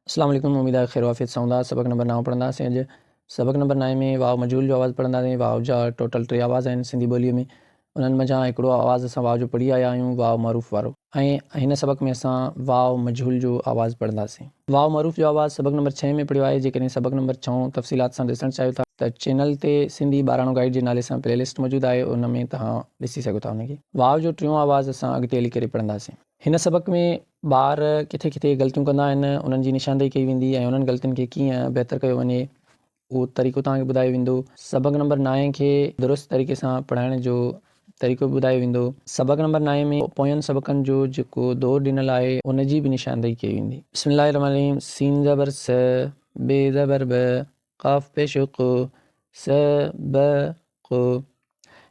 اسلام عليڪم اميد آهي خير وعافيت سان هوندا سبق نمبر نائون پڙهنداسين اڄ سبق نمبر نائين ۾ واء مجهول جو آواز پڙهنداسين واء جا ٽوٽل ٽي آواز آهن سنڌي ٻوليء ۾ انهن منجهان هڪڙو آواز اسان واء جو پڙهي آيا آهيون واء معروف وارو ۽ هن سبق ۾ اسان واء مجهول جو آواز پڙهنداسين واء معروف جو آواز سبق نمبر ڇهين ۾ پڙهيو آهي جيڪڏهن سبق نمبر ڇهون تفصيلات سان ڏسڻ چاهيو ٿا ته چينل تي سنڌي ٻاراڻو گائيڊ جي نالي سان پلي لسٽ موجود آهي ان ۾ توهان ڏسي سگهو ٿا ان کي واء جو ٽيون آواز اسان اڳتي هلي ڪري پڙهنداسين. هن سبق ۾ ٻار ڪٿي ڪٿي غلطيون ڪندا آهن انهن جي نشاندهي ڪئي ويندي ۽ انهن غلطين کي ڪيئن بهتر ڪيو وڃي اهو طريقو توهان کي ٻڌايو ويندو. سبق نمبر نائين کي درست طريقي سان پڙهائڻ جو طريقو به ٻڌايو ويندو. سبق نمبر نائين ۾ پوين سبقن جو جيڪو دور ڏنل آهي ان جي به نشاندهي ڪئي ويندي. بسم الله الرحمن الرحيم سين زبر س ب زبر ب قاف پيش ق س ب ق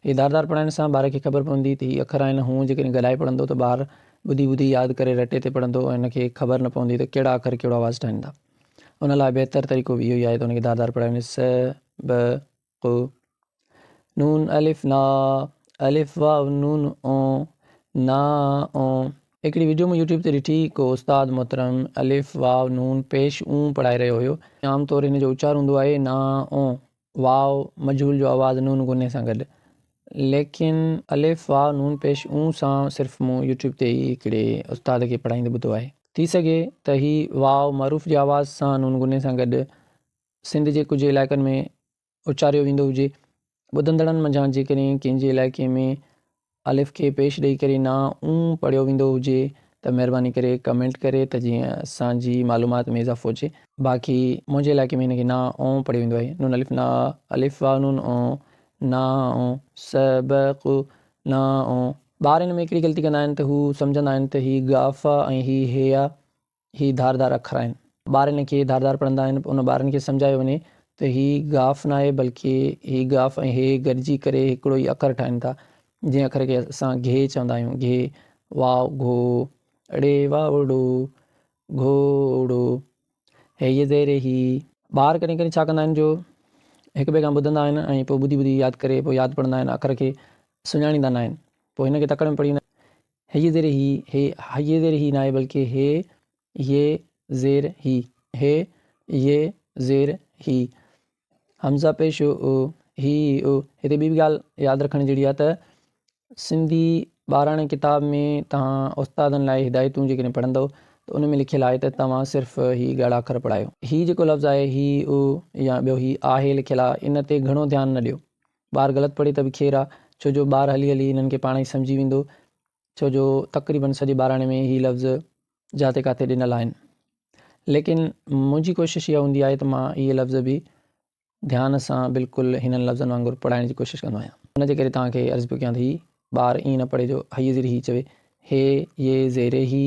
هي ڌار ڌار پڙهائڻ سان ٻار کي خبر پوندي ته هي اکر آهن هونء جيڪڏهن ڳالهائي پڙهندو ته ٻار ٻڌي ٻڌي ياد ڪري رٽي تي پڙهندو ۽ هن کي خبر نه پوندي ته ڪهڙا اکر ڪهڙو آواز ٺاهين ٿا ان لاء بهتر طريقو به اهو ئي آهي ته هن کي ڌار ڌار پڙهائي وڃي س ب ق ن، الف، نا، الف، واو، نون، او، نا، او، هڪڙي وڊيو مون يوٽيوب تي ڏٺي ڪو استاد محترم الف، واو، نون، پيش، اون پڙهائي رهيو هيو. عام طور ان جو اچار هوندو آهي نا، او، واو، مجهول جو آواز نون غني سان گڏ ليڪن الف، واو، نون، پيش، اون سان صرف مون يوٽيوب تي ئي هڪڙي استاد کي پڙهائيندي ٻڌو آهي. ٿي سگهي ته هي واو معروف جي آواز سان نون غني سان گڏ سنڌ جي ڪجهه علائقن ۾ اچاريو ويندو هجي. ٻڌندڙن منجهان جيڪڏهن ڪنهن جي علائقي ۾ الف کي پيش ڏئي ڪري نا اون پڙهيو ويندو هجي ته مهرباني ڪري ڪمينٽ ڪري ته جيئن اسان جي معلومات ۾ اضافو هجي. باقي منهنجي علائقي ۾ هن کي نا اون پڙهيو ويندو آهي، نون الف نا الف واء نون اون نا اون س ب ق نا اون. ٻار ان ۾ هڪڙي غلطي ڪندا آهن ته هو سمجهندا آهن ته هي غافا ۽ هي هيا هي ڌار ڌار اکر آهن. ٻار هن کي ڌار ڌار پڙهندا آهن. ان ٻارن کي سمجهايو وڃي ته هي گاف ناهي بلڪه هي گاف ۽ هي گڏجي ڪري هڪڙو ئي اکر ٺاهين ٿا. جنهن اکر کي اسان گهي چوندا آهيون. گهي، واء، گهو، ڙي، واوڙو، گهوڙو، هيء زيري هي. ٻار ڪڏهن ڪڏهن ڇا ڪندا آهن جو هڪ ٻئي کان ٻڌندا آهن ۽ پوء ٻڌي ٻڌي ياد ڪري پوء ياد پڙهندا آهن اکر کي سڃاڻيندا ناهن. پوء هن کي تڪڙ ۾ پڙهي وڃن. هيء زير هي هي هيء زير هي ناهي بلڪه هي يي زير هي هي يي زير هي همزه پيش او او هي او هتي ٻي به ڳالهه ياد رکڻ جهڙي آهي ته سنڌي ٻاراڻي ڪتاب ۾ توهان استادن لاء هدايتون جيڪڏهن پڙهندؤ ته ان ۾ لکيل آهي ته توهان صرف هي ڳاڙها اکر پڙهايو هي جيڪو لفظ آهي هي او يا ٻيو هي آهي لکيل آهي ان تي گهڻو ڌيان نه ڏيو ٻار غلط پڙهي ته به خير آ، ڇو جو ٻار هلي هلي هنن کي پاڻ ئي سمجهي ويندو، ڇو جو تقريبن سڄي ٻاراڻي ۾ هي لفظ جاتي ڪاتي ڏنل آهن. ليڪن منهنجي ڪوشش اها هوندي آهي ته مان اهي لفظ به ڌيان سان بلڪل هنن لفظن وانگر پڙهائڻ جي ڪوشش ڪندو آهيان. ان جي ڪري توهان کي عرض پيو ڪيان ته هي ٻار ائين نه پڙهي جو هيء زيري هيء چوي هي، يي، زيري هي.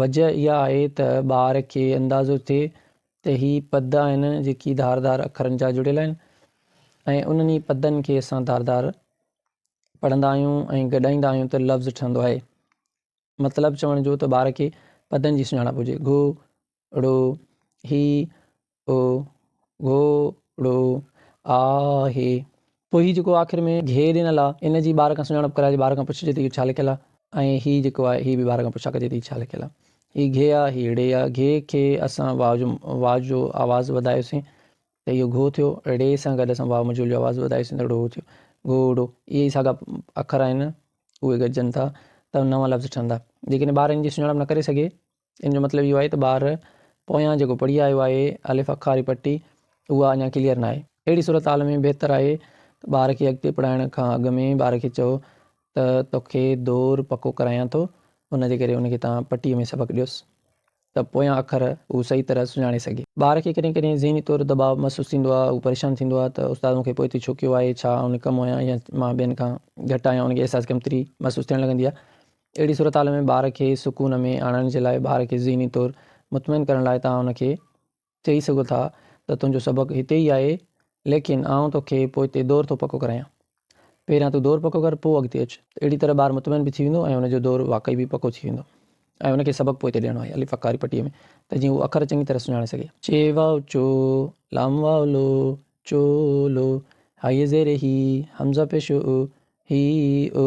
وجهه اها آهي ته ٻار کي اندازو ٿئي ته هي پد آهن جيڪي ڌار ڌار اکرن جا جڙيل آهن ۽ انهن ئي پدن کي اسان ڌار ڌار پڙهندا آهيون ۽ گڏائيندا آهيون ته لفظ ٺهندو آهي. مطلب چوڻ جو ته ٻار کي پدن جي سڃاڻپ هجي، گهو، ڙو، هي، او گهوڙو آهي. پوء هي جيڪو آخر ۾ گهي ڏنل آ ان جي ٻار کان سڃاڻپ ڪرائجي ٻار کان پڇجي ته اهو ڇا لکيل آ ۽ هي جيڪو آهي هي به ٻار کان پڇا ڪجي ته هي ڇا لکيل آ هي گهي آ هي ڙي آ گهي کي اسان واء جو واء جو آواز وڌايوسين ته اهو گهو ٿيو ڙي سان گڏ اسان واء مجهول جو آواز وڌايوسين ته ڙو ٿيو گهوڙو اهي ئي ساڳا اکر آهن اهي گڏجن ٿا ته نوان لفظ ٺهندا جيڪڏهن ٻار ان جي سڃاڻپ نه ڪري سگهي ان جو مطلب اهو آهي ته ٻار پويان جيڪو پڙهي آيو آهي الف اکا واري پٽي اها اڃا ڪليئر ناهي. اهڙي صورتحال ۾ بهتر آهي ته ٻار کي اڳتي پڙهائڻ کان اڳ ۾ ٻار کي چئو ته توکي دور پڪو ڪرايان ٿو ان جي ڪري ان کي توهان پٽي ۾ سبق ڏيوس ته پويان اکر هو صحيح طرح سڃاڻي سگهي. ٻار کي ڪڏهن ڪڏهن ذهني طور دٻاء محسوس ٿيندو آهي هو پريشان ٿيندو آهي ته استاد مونکي پوئتي ڇو ڪيو آهي ڇا آئون نڪمو آهيان يا مان ٻين کان گهٽ آهيان ان کي احساس ڪمتري محسوس ٿيڻ لڳندي آهي. اهڙي صورتحال ۾ ٻار کي سڪون ۾ آڻڻ جي لاء ٻار کي ذهني طور مطمئن ڪرڻ لاء توهان ان کي چئي سگهو ٿا ته تنهنجو سبق هتي ئي آهي ليڪن آئون توکي پوئتي دور ٿو پڪو ڪرايان. پهريان تون دور پڪو ڪر پوء اڳتي اچ. اهڙي طرح ٻار مطمئن به ٿي ويندو ۽ ان جو دور واقعي به پڪو ٿي ويندو ۽ ان کي سبق پوئتي ڏيڻو آهي الف اکاري پٽي ۾ ته جيئن هو اکر چڱي طرح سڃاڻي سگهي. چي واو چو، لام واو لو، چو لو، هائي زير هي، همزه پيش او، هي او.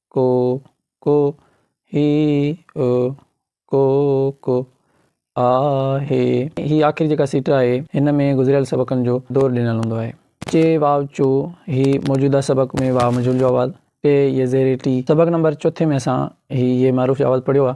ڪو ڪو هي او ڪو ڪو آ هي. هي آخري جيڪا سٽر آهي هن ۾ گذريل سبقن جو دور ڏنل هوندو آهي. چي واء چو هي موجوده سبق ۾ واء مجهول جو آواز، ٽي ي زير ٽي. سبق نمبر چوٿين ۾ اسان هي ي معروف جو آواز پڙهيو آهي.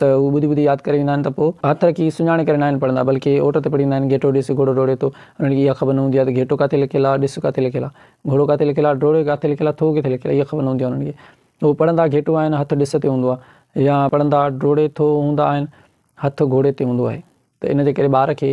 ته هو ٻڌي ٻڌي ياد ڪري ويندا آهن ته پوء هٿ رکي سڃاڻي ڪري ناهن پڙهندا بلڪه اوٽ تي پڙهيندا آهن گهيٽو ڏس گهوڙو ڊوڙي ٿو انهن کي اها خبر نه هوندي آهي ته گهيٽو ڪاٿي لڪيل آهي ڏس ڪاٿي لڪيل آهي گهوڙو ڪاٿي لڪيل آهي ڊوڙي ڪاٿي لڪيل آهي ٿو ڪٿي لڪيل آهي اها خبر نه هوندي آهي انهن کي هو پڙهندا گهيٽو آهن هٿ ڏس تي هوندو آهي يا پڙهندا ڊوڙي ٿو هوندا آهن هٿ گهوڙي تي هوندو آهي ته ان جي ڪري ٻار کي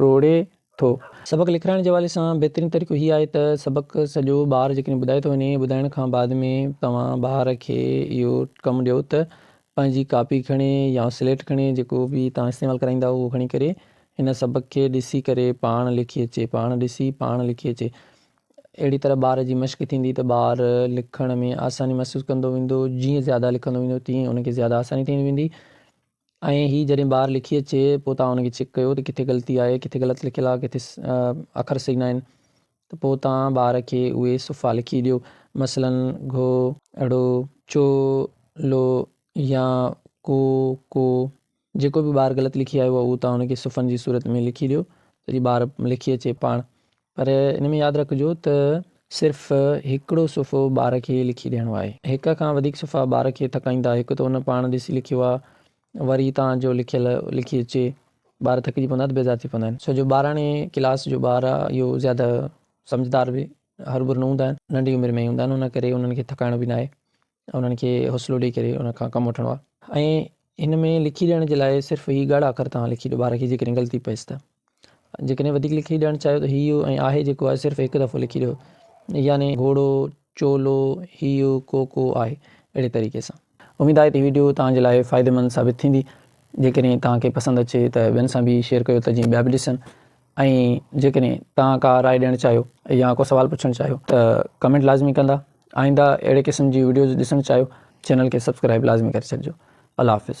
ڊوڙي ٿو. سبق لکرائڻ جي حوالي سان بهترين طريقو هي آهي ته سبق سڄو ٻار جيڪڏهن ٻڌائي ٿو وڃي ٻڌائڻ کان بعد ۾ توهان ٻار کي اهو ڪم ڏيو ته پنهنجي ڪاپي کڻي يا سليٽ کڻي جيڪو به توهان استعمال ڪرائيندا اهو کڻي ڪري هن سبق کي ڏسي ڪري پاڻ لکي اچي پاڻ ڏسي پاڻ لکي اچي اهڙي طرح ٻار جي مشق ٿيندي ته ٻار لکڻ ۾ آساني محسوس ڪندو ويندو جيئن زياده لکندو ويندو تيئن ان کي زياده آساني ٿيندي ويندي. ۽ هي جڏهن ٻاهر لکي اچي پوء توهان ان کي چيڪ ڪيو ته ڪٿي غلطي آهي ڪٿي غلط لکيل آهي ڪٿي اکر صحيح ناهن ته پوء توهان ٻار کي اهي صفحا لکي ڏيو مثلاً گهو ڙو چو لو يا ڪو ڪو جيڪو به ٻار غلط لکي آيو آهي اهو توهان ان کي صفحن جي صورت ۾ لکي ڏيو ته جي ٻار لکي اچي پاڻ پر ان ۾ ياد رکجو ته صرف هڪڙو صفحو ٻار کي لکي ڏيڻو آهي. هڪ کان وڌيڪ صفحا ٻار کي ٿڪائيندا، هڪ ته هن پاڻ ڏسي لکيو آهي وري توهان جو لکيل لکي اچي، ٻار ٿڪجي پوندا ته بيزار ٿي پوندا آهن. ڇو جو ٻاراڻي ڪلاس جو ٻار آهي اهو زياده سمجهدار به هروڀرو نه هوندا آهن، ننڍي عمر ۾ ئي هوندا آهن ان ڪري انهن کي ٿڪائڻو به ناهي انهن کي حوصلو ڏئي ڪري ان کان ڪم وٺڻو آهي ۽ هن ۾ لکي ڏيڻ جي لاء صرف هي ڳاڙها اکر توهان لکي ڏيو ٻار کي جيڪڏهن غلطي پئيس ته جيڪڏهن وڌيڪ لکي ڏيڻ چاهيو ته هيو ۽ آهي جيڪو آهي صرف هڪ دفعو لکي ڏيو يعني گهوڙو چولو هيو ڪوڪو آهي اهڙي طريقي سان. اميد آهي ته هي وڊيو توهان جي لاء فائديمند ثابت ٿيندي جيڪڏهن توهان کي پسند اچي ته ٻين سان به شيئر ڪيو ته جيئن ٻيا به ڏسن ۽ جيڪڏهن توهان ڪا راء ڏيڻ چاهيو يا ڪو سوال پڇڻ چاهيو ته ڪمينٽ لازمي ڪندا آئنده اهڙي قسم جي وڊيوز ڏسڻ چاهيو چينل کي سبسڪرائب لازمي ڪري ڇڏجو الله حافظ.